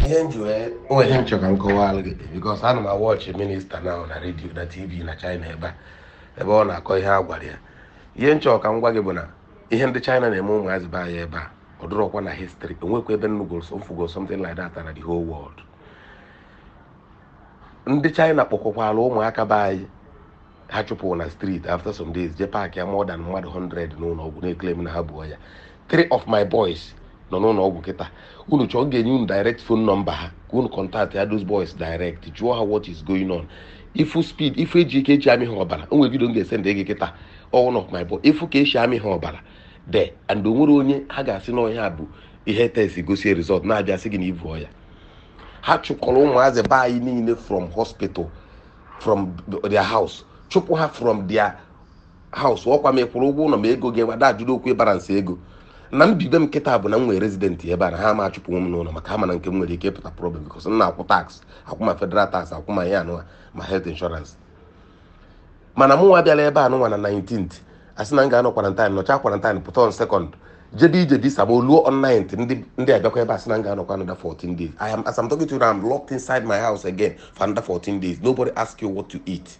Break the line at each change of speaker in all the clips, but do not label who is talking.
ihe m ji wee o nwee ihe m chọrọ ka m kọwalụ gị because ana m awatchị minister na na radio na tv na china ebe a ebe ọ na-akọ ihe a gwara ya ihe m chọrọ ka m gwa gị bụ na ihe ndị china na-eme ụmụazị be anyị ebe a ọ dụrọkwa na history o nwekwa ebe m nụgoro m fụgo something like that na the whole world ndị china kpọkọkwara ụmụaka be anyị ha chụpụrụ na street after some days jee packịa more than mmadụ 100 n'ụlọ ọgwụ na-eclaim na ha bu ọya three of my boys nọ n'ụlọ ọgwụ kịta unu chọọ ga-enye unu direct phone number ha ka unu contactịa those boys direct jụọ ha what is going on ị fụ speed ị fụ e ji ike e ji amị ha ọbara o nwere video m ga-esendị gị kịta one of my boy ị fụ ka e si amị ha ọbara de and o nwerọ onye ha ga-asị na ọ ihe a bụ ihe test gosi result na-abịa sị gị na i bu ọya ha chụkọrọ ụmụazị be anyị niile from hospital from their house chụpụ ha from their house ọkwa ma ị kwụrụ ụgwọ ụlọ ma ego gị wada ajụrụ okwu ịbara nsị ego na m bi ebe a kịta bụ na m nwere resident ebe a na ha ama achụpụnwu m n'ụlọ maka ha ma na nke m nwere ike ịpụta problem because m na-akwụ tax akwụ ma federal tax akwụ ma ihe a nụwa ma health insurance mana mụ nwa bịara ebe a nụnwa na 19th a sị na m ga-anọ quarantine nọchaa quarantine pụta on second jebe ije visa ma o luo on 9th ndị ndị abịakwa ebe a sị na m ga-anọkwa another 14 days I am as I'm talking to you now I'm locked inside my house again for another 14 days nobody ask you what to eat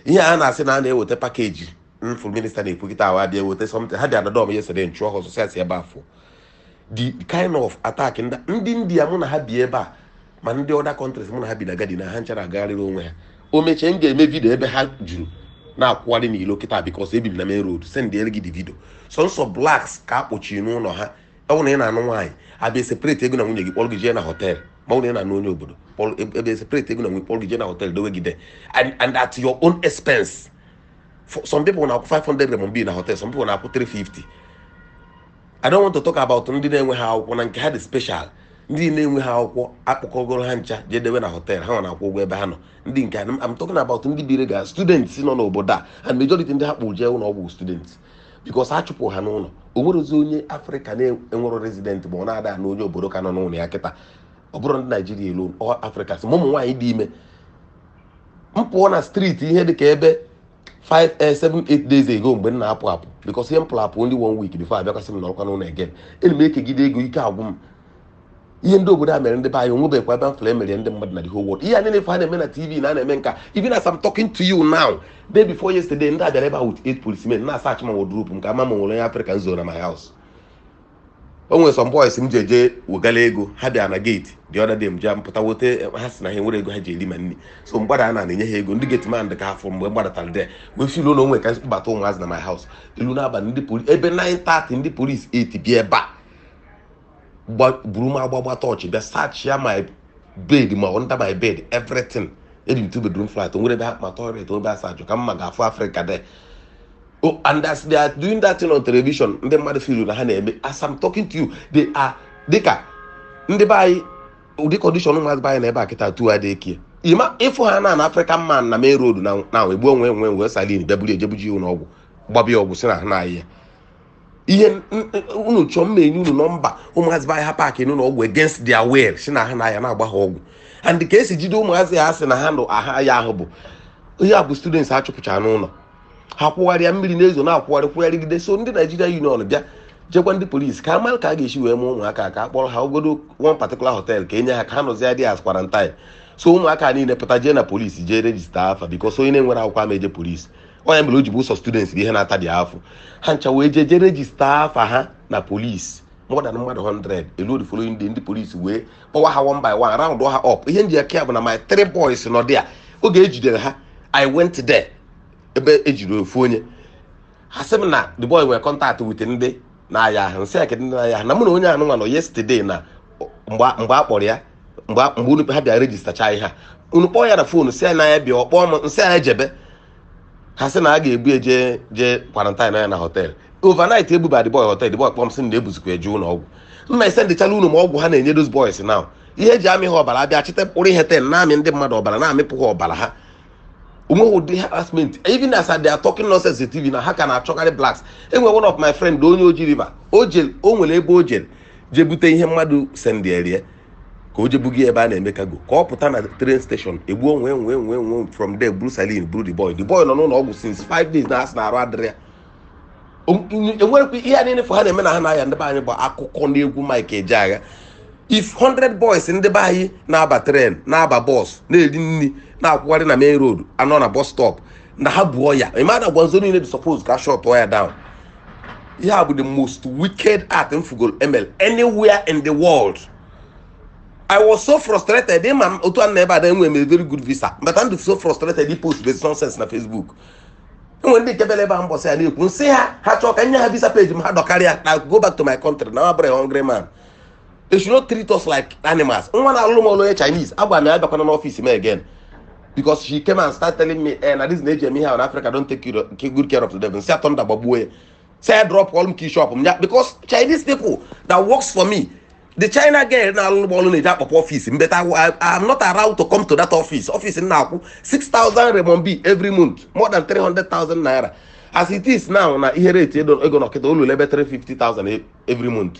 ihe a na-asị na a na-eweta package m fụ minister na-ekwu kịta a ha bịa weta something ha bịa na door m yesterday m chụọ ha ọsọ sị ha si ebe a pụọ the kind of attack ndị ndị india mụ na ha bi ebe a ma ndị other countries mụ na ha bi na garden a ha ncha na-agagharịrị onwe ha o mechaa m ga-eme video ebe ha juru na-akwụgharị n'ilo kịta because ebi m na main road sendịere gị the video sọnsọ blacks ka a kpọchiri n'ụlọ ha ọ bụ na ị na-anụ nwaanyị a bịa separate gị na nwunye gị kpọrọ gị jee na hotel ma ọ bụ na ị na-anụ onye obodo kpọrọ ebe separate gị na nwunye kpọrọ gị jee na hotel dowe gị de and and at your own expense For some people na-akwụ 500 renminbi na hotel some people na-akwụ 350 I don't want to talk about ndị na-enweghị akwụkwọ na nke ha dị special ndị na-enweghị akwụkwọ akpọkọgoro ha ncha jee dewe na hotel ha nwa na-akwụ ụgwọ ebe ha nọ ndị nke a, I'm talking about ndị bụ legal students nọ n'obodo a and majority ndị ha kpụ jee ụlọ ọgwụ students because a chụpụ ha n'ụlọ o nwerọzị onye afrịka na-enwero resident ma ọ na-ada anụ onye obodo ka nọ n'ụlọ ya kịta ọ bụrọ ndị naijiria alone all Africans ma ụmụ nwaanyị dị ime m fụ na street ihe dị ka ebe 5 eh, 7 8 days ago mgbe m na-apụ apụ because ihe m pụrụ apụ only one week before a bịakwa sị m nọkwa n'ụlọ again elu m ekegide ego ike agwụ m ihe ndị obodo a mere ndị be anyị o nwebekwa ebe m fụrụ e mere ndị mmadụ na the whole world ihe a niile ife a na-eme na tv na a na-eme nke a even as I'm talking to you now day before yesterday ndị a bịara ebe a with eight policemen na-asearchị ma wardrobe m ka a ma ma o nwere onye afrịka m zo na my house o nwere some boys m ji eje wegala ego ha bịa na geeti the other day m ji mpụta wote ha sị na ha enwerọ ego ha ji eri ma nri so m gbada a na-enye ha ego ndị geeti man dị ka ha fụ mgbe m gbadatara dị wee feel na o nwe ka m kpọbata ụmụazị na my house eluo n'abalị ndị poli ebe 9:30 ndị polis eti bịa ebe a gba- buru m agbagba tọọchị bịa sachia my bed ma under my bed everything ebi m two bedroom flat o nwere ebe ha ma toilet o nwere ebe asa ajụ ka mma ga-afụ African there Oh, and as they are doing that thing on television ndị mmadụ feel na ha na-eme as I'm talking to you they are dịka ndị be anyị ụdị condition ụmụazị be anyị nọ ebe a kịta tu adị ekie ima ịfụ ha na na African man na main road na na egbuo nwee nwee wee siren bịa buru ejebuji ụlọ ọgwụ gbaba ya ọgwụ sị na ha na-aya ihe n- n- unu chọọ m ma enye unu nọmba ụmụazị be anyị ha paakị n'ụlọ ọgwụ against their will sị na ha na-aya na-agba ha ọgwụ and ka esi jide ụmụazị ha sị na ha na-aya ahụ bụ ihe a bụ students a chụpụchara n'ụlọ ha kwụgharịa mmiri na-ezo na-akwụgharị kwụgharịgide so ndị Naijiria Union bịa jekwu ndị polisi ka mara ka a ga-esi wee mee ụmụaka ka a kpọrọ ha ogodo one particular hotel ka e nye ha ka ha nọzie there as quarantine so ụmụaka niile pụta jee na polisi jee rejista afa bikos onye na-enwerọ akwụkwọ ama eje polisi ọ ya mere o ji bụ sọ students bụ ihe na-ata dị afọ ha ncha wee jee jee rejista afa ha na polisi more than mmadụ 100 eluo the following day ndị polisi wee kpọwa ha one by one round ha up ihe m ji aka ya bụ na my three boys nọ there oge e jidere ha i went there ebe e jiri ofu onye ha sị m na the boy nwere contact with ndị na-aya ahụ m sị ya kedụ ndị na-aya ahụ na mụ na onye ahụ nwa nọ yesterday na mgbe mgbe a kpọrọ ya mgbe a- mgbe unu ha bịa rejistacha ihe a unu kpọọ ya na foonu sị ya na ya bịa ọ kpọọ m m sị ya jebe ha sị na a ga-ebu ya jee jee quarantine ya na hotel overnight ebuba the boy hotel the boy kpọọ m sị na ebuzikwa eje ụlọ ọgwụ nna ise ndị China unu ma ọgwụ ha na-enye those boys now ihe e ji amị ha ọbara a bịa chịta mkpụrụ ihe ten na-amị ndị mmadụ ọbara na-amịpụ ha ọbara ha o nweghị ụdị harassment even as they are talking nonsense in tv na ha ka na-achọgharị blacks e nwere one of my friend onye Oji River o jelu o nwere ebe o jelu jee bute ihe mmadụ sendere ya ka o je buga ya ebe a na-eme kago ka ọ pụta na train station egbuo nwee nwee nwee nwee from there buru siren buru the boy the boy nọ n'ụlọ ọgwụ since five days na a sị na arụ adịrọ ya O- n- enwerekwa ihe a niile ị fụ ha na-eme na ahụ na-aya ndị be anyị bụ akụkọ na egwu Mike Ejeagha if 100 boys ndị be anyị na-aba tren na-aba bọs na-eri nri na-akwụgharị na main road a nọ na bọs stọp na ha bu ọya ịma na Guangzhou niile dị suppose ka shọtụọ ya down ihe a bụ the most wicked act m fụgolu e melu anywhere in the world I was so frustrated ịma m otu a na ebe ada enwe m a very good visa but I'm so frustrated I post this nonsense na Facebook e nwe ndị nke bịara ebe a mbọsị ya na-ekwu m sị ha ha chọọ ka m nye ha visa page m ha dọkarịa na go back to my country na abụrọ m a hungry man they should not treat us like animals nwa na-alụlụ m ọlụ onye chinese agwa m ya abịakwana n'ọfịs m again because she came and start telling me eh na this na-eji eme ihe ahụ na africa don take care- take good care of the devil si atọ nda gbagbuo ya si ya drop ọlụ m ka ishop m ya because chinese people that works for me the china girl na-alụlụ m ọlụ na-eji akpọpụ ọfịs m but I, I, I'm not around to come to that office office m na-akwụ 6000 renminbi every month more than 300,000 naira as it is now na ihe rate ego ego nọ kịta ụlọ ebe 350,000 every month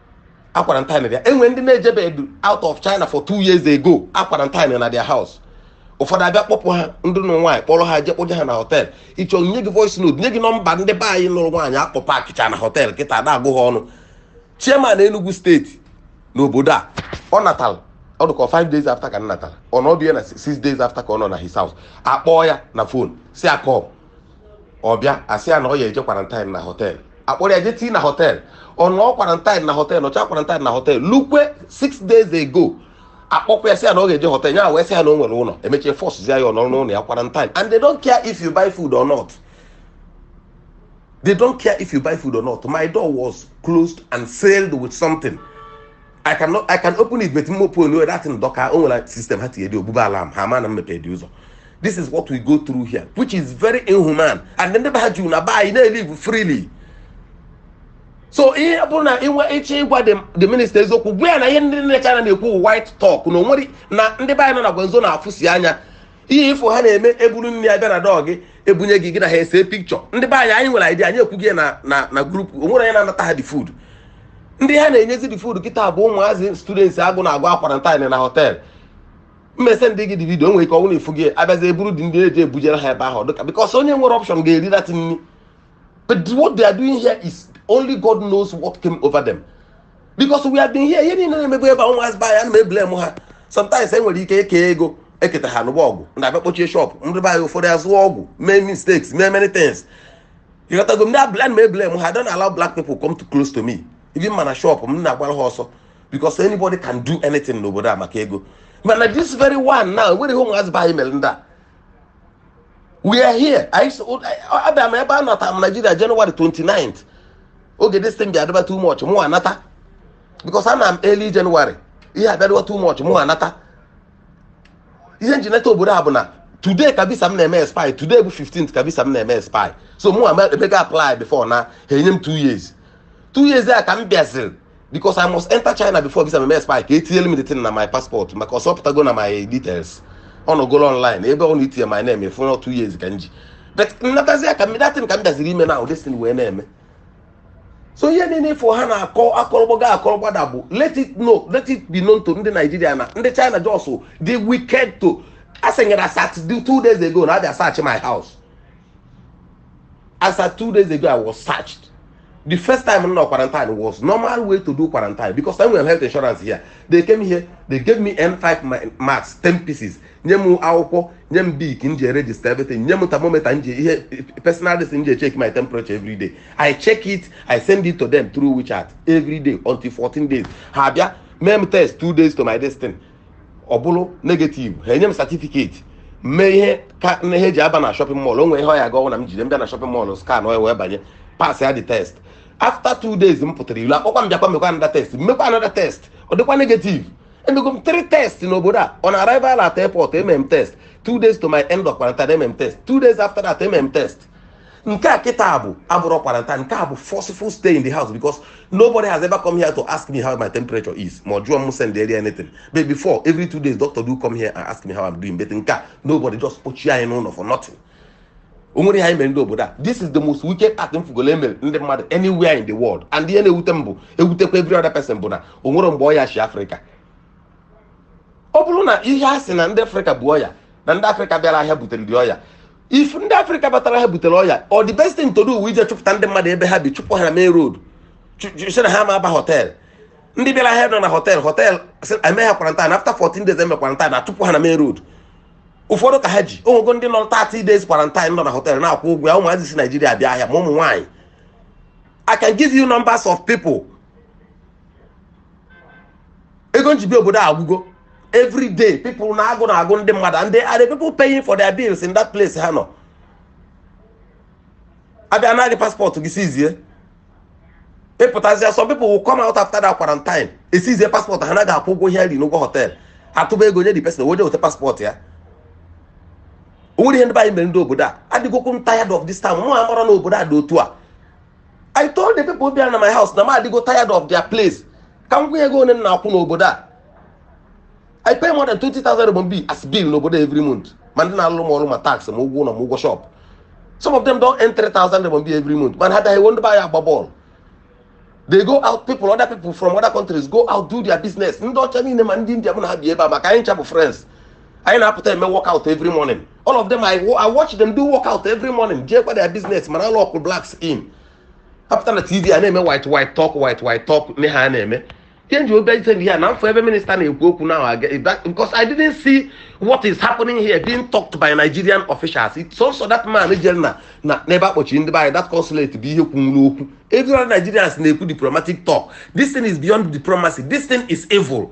a quarantine ya e nwere ndị na-ejebedu out of China for two years ago a quarantine na their house ụfọdụ abịa kpọpụ ha ndị nụ nwaanyị kpọrọ ha je kpọje ha na họtel ị chọọ nye gị voice note nye gị nọmba ndị be anyị nụrụ nwaanyị akpọ paakịcha na họtel kịta na-agụ ha ọnụ chairman Enugu steeti n'obodo a ọ natara ọ dịka 5 days after ka m natara ọ nọdụ ya na 6 days after ka ọ nọ na his house akpọọ ya na fon sị ya come ọ bịa asị ya na ọ ya-eje quarantine na họtel akpọrọ ya je tii na họtel ọ nọọ quarantine na họtel nọcha quarantine na họtel lukwe 6 days ago akpọkwa ya sị ya na ọ ga-eje họtel ya wee sị ya na o nwere ụlọ emechie fọsụzi ya ọ nọrọ n'ụlọ ya quarantine and they don't care if you buy food or not they don't care if you buy food or not my door was closed and sealed with something I can no- I can open it but m openụọ that thing dịka o nwere system ha tinye dị ogbugba alarm ha ma na m mepe the ụzọ this is what we go through here which is very inhuman and ndị be ha juru na be anyị na-elive freely so ihe ọ bụrụ na i nwe ị chọ ịgwa the- the minister eziokwu gwa ya na ihe ndị China na-ekwu wụ white talk na o nwere na ndị be anyị nọ na Guangzhou na-afụsi anya ihe ị fụ ha na-eme e buru nri bịa na door gị ebunye gị gị na ha ese picture ndị be anyị anyị nwere idea anyị ekwu gị na na na group o nwere onye na-anata ha the food ndị ha na-enyezi the food kịta bụ ụmụazị students agụ na-agụ a quarantine na họtel m esendi gị the video nwere ike ọ wụ na ị fụgo abịazi eburu dị ndị na-eji ebujere ha ebe ahụ dịka because onye nwere option ga-eri that nri But what they are doing here is only God knows what came over them. Because we have been here, ihe niile na-emegbu ebe ọnwa azba ya na-eblame ha sometimes e nwere ike eke ego eketa ha n'ụgbọ ọgwụ na-abịa kpọchie shop ndị be anyị ụfọdụ azụ ọgwụ mee mistakes mee many things ị ghọtago ndị abla na-eblame ha don't allow black people come too close to me even ma na shop m na-agbara ha ọsọ because anybody can do anything n'obodo a maka ego mana this very one now e nwere ihe ụmụazị be anyị mere ndị a we are here anyị so abịa m ebe a anata m Nigeria January 29th oge this thing bịadịba too much mụ anata because ana m early January ihe abịadịba too much mụ anata ihe m ji nata obodo a bụ na today ka visa m na-eme expire today bụ 15th ka visa m na-eme expire so mụ emego apply before na ha enye m 2 years 2 years a ka m bịaziri because I must enter China before visa m eme expire ka etinyere m the thing na my passport maka ọsọ pụtago na my details ọ nọgoro online ebe ọ na-etinye my name afụ na two years ka m ji but nnatazi ya ka m datin ka m bịaziri ime na this thing wee na-eme so ihe niile ifo ha na-akọ akọrọgbaga akọrọgbada bụ let it know let it be known to ndị Naijiria na ndị China just dị wicked to asịnyere as at two days ago na abịa search my house as at two days ago I was searched the first time m nọ quarantine was normal way to do quarantine because I nwere health insurance here they came here they gave me N5 ma- max 10 pieces nye m akwụkwọ nye m bik m ji register everything nye m thermometer m ji ihe personal this m ji check my temperature every day I check it I send it to them through WeChat every day until 14 days ha bịa mee m test two days to my destiny ọ bụrụ negative ha enye m certificate mee ihe ka na ihe eji aba na shopping mall o nwere ihe ọ ya ga-awụ na m jide m bịa na shopping mall scanụọ ya wee banye pass ya the test after two days m pụtara ilo akpọkwa m bịakwa mekwa another test m mekwa another test ọ dịkwa negative emego m three test n'obodo a on arrival at airport eme m test two days to my end of quarantine eme m test two days after that eme m test nke a kịta bụ abụrọ quarantine nke a bụ forceful stay in the house because nobody has ever come here to ask me how my temperature is ma ọ jụọ m send eri anything but before every two days doctor do come here and ask me how I'm doing but nke a nobody just kpochie anyị n'ụlọ for nothing o nwere ihe anyị mere ndị obodo a this is the most wicked act m fụgolo emere ndị mmadụ anywhere in the world and ihe na-ewute m bụ ewutekwa every other person bụ na o nwere mgbe ọya si afrịka ọ bụrụ na ihe a sị na ndị afrịka bu ọya na ndị afrịka bịara ahịa butere the ọya if ndị afrịka batara ahịa butere ọya ọ the best thing to do ije chụpụta ndị mmadụ ebe ha bi chụpụ ha na main road sị na ha ama aba họtel ndị bịara ahịa nọ na họtel họtel eme ha kwarantin after 14 days eme kwarantin achụpụ ha na main road ụfọdụ ka ha ji o nwego ndị nọ 30 days kwarantin nọ na họtel na-akwụ ụgwọ ya ụmụazị si naijiria bịa ahịa ma ụmụ nwaanyị i can give you numbers of people ego m ji bịa obodo a agwụgo every day people na agụụ na-agụ ndị mmadụ and they are the people paying for their bills in that place ha nọ abịa naa gị paspọtụ gị sizie ị pụtazia some people will come out after that quarantine esizie paspọtụ ha naghị akwụ ụgwọ ihe ri n'ụgwọ họtel atụba ego nye the person o nwete paspọtụ ya o nwere ihe ndị anyị mere ndị obodo a adịgokwu m tired of this town mụ amarọ na obodo a dị otu a I told the people bịara na my house na m adịgo tired of their place ka m gwa gị ego one m na-akwụ n'obodo a I pay more than 20,000 RMB as bill n'obodo a every month ma ndị na-alụ m ọrụ ma tax ma ụgwọ ụlọ ma ụgwọ shop some of them do earn 3,000 RMB every month mana ha na-eji ndị be anyị agba bọọlụ they go out people other people from other countries go out do their business ndị ọcha niile ma ndị india mụ na ha bi ebe a maka anyị ncha bụ friends anyị na-apụta eme workout every morning all of them I, I watch them do workout every morning jeekwa their business mana alọkụọ blacks in ha pụta na tv a na-eme white white talk white white talk ihe ha na-eme ihe m ji bịa ise ihe a na m fụ ebe minista na-ekwu okwu nnyaahụ because I didn't see what is happening here being talked by Nigerian officials sọsọ that man jere na na n'ebe akpọchiri ndị be anyị that consulate bụ ihe kwunwuru okwu every other Nigerians na-ekwu diplomatic talk this thing is beyond diplomacy this thing is evil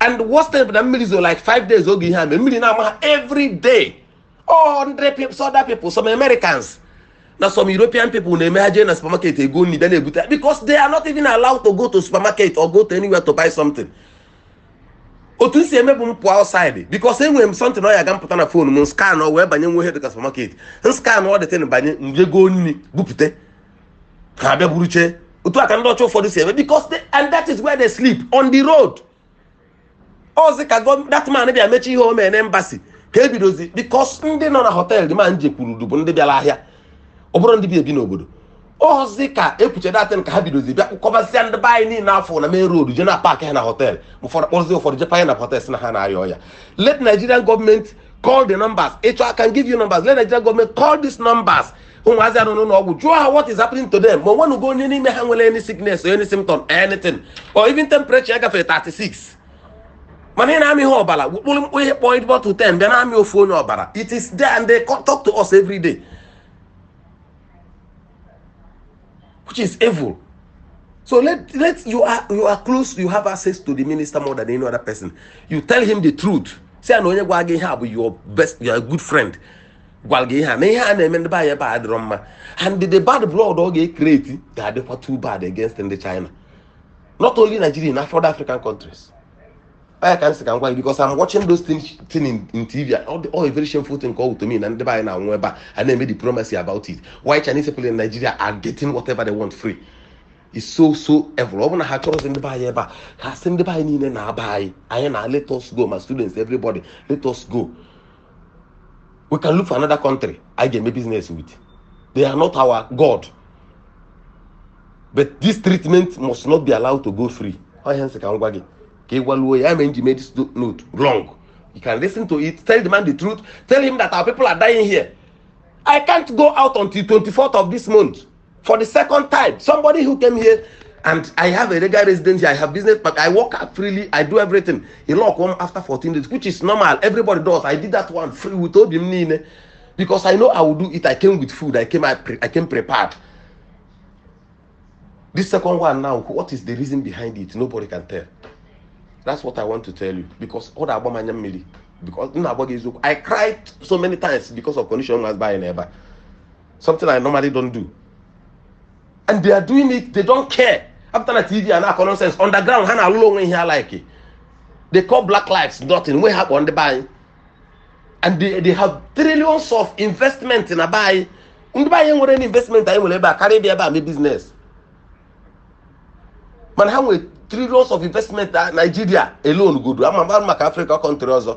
and worst thing bụ na mmiri zo like five days oge ihe a mee mmiri na-ama ha every day all hundred people some other people some Americans na some European people na-eme ha jee na supermarket ego nri bịa na-ebute because they are not even allowed to go to supermarket or go to anywhere to buy something otu m si eme bụ m pụọ outside because enwere m something ọ ya ga-apụta na fon m scanụọ wee banye nwe ihe dịka supermarket m scanụọ that thing banye m je goo nri bupute ha abịa buruche otu a ka ndị ọcha ụfọdụ si eme because they, and that is where they sleep on the road ọzi ka gọ- that man bịa mecha ihe o mee na embassy ka e bidozi because ndị nọ na hotel dị ma nje kwuru bụ ndị bịara ahịa ọ bụrọ ndị bi ebi n'obodo ọzi ka e kwuche that thing ka ha bidozi bịa kpọkọbasịa ndị be anyị niile nọ na main road je na-apaakị ha na hotel ụfọdụ kpọrọzi ụfọdụ je panye na hotel sị na ha na-arịa ọya let nigerian government call the numbers ị chọọ i can give you numbers let nigerian government call these numbers ụmụazị a nọ n'ụlọ ọgwụ jụọ ha what is happening to them ma ọ nwenugo onye n'ime ha nwere any sickness or any symptom anything or even temperature ya gafere 36 mana a na-amị ha ọbara kpụrụ mkpụ ihe kpọọ ịdị bottle 10 bịa na-amị ofu onye ọbara it is there and they co- talk to us every day which is evil so let let you are you are close you have access to the minister more than any other person you tell him the truth say na onye gwa gị ihe a bụ your best your good friend gwara gị ihe a na ihe a na-eme ndị be anyị ebe a dịrọ mma and the bad blood ọ ga-ecreate ga-adịkwa too bad against ndị China not only Nigeria na ụfọdụ African countries ọ ya ka m sị ka m gwa gị because I'm watching those things in, in TV all, the, all a very shameful thing called to me na ndị be anyị na-anwụ ebe a a na-eme diplomacy about it while Chinese people in Nigeria are getting whatever they want free is so so evil ọ bụ na ha achọrọzi ndị be anyị ebe a ha sị ndị be anyị niile naba anyị anyị naa let us go ma students everybody let us go we can look for another country anyị ga-eme business with they are not our god but this treatment must not be allowed to go free ọhịa nsị ka m gwa gị ka ị gwaluo ya mere nji mee this note wrong you can listen to it tell the man the truth tell him that our people are dying here i can't go out until 24th of this month for the second time somebody who came here and i have a regular residence here i have business but i work out freely i do everything he lock one after 14 days which is normal everybody does i did that one free with obi m niile because i know i will do it i came with food i came i, pre- I came prepared this second one now what is the reason behind it nobody can tell that's what i want to tell you because ọ na-agba m anya mmiri because m na-agba gị eziokwu i cried so many times because of condition was buying ebe a something I normally don't do and they are doing it they don't care after na tv a na-akọ nonsense underground ha na-alụrụ onwe ihe ha like they call black lives nothing nwe ihe ha kpọ ndị be anyị and they, they have trillions of investment na be anyị ndị be anyị nwere investment anyị nwere ebe a karịa ịbịa ebe a mee business mana ha nwere trillions of investment na Nigeria alone godu ama mara maka Africa country ọzọ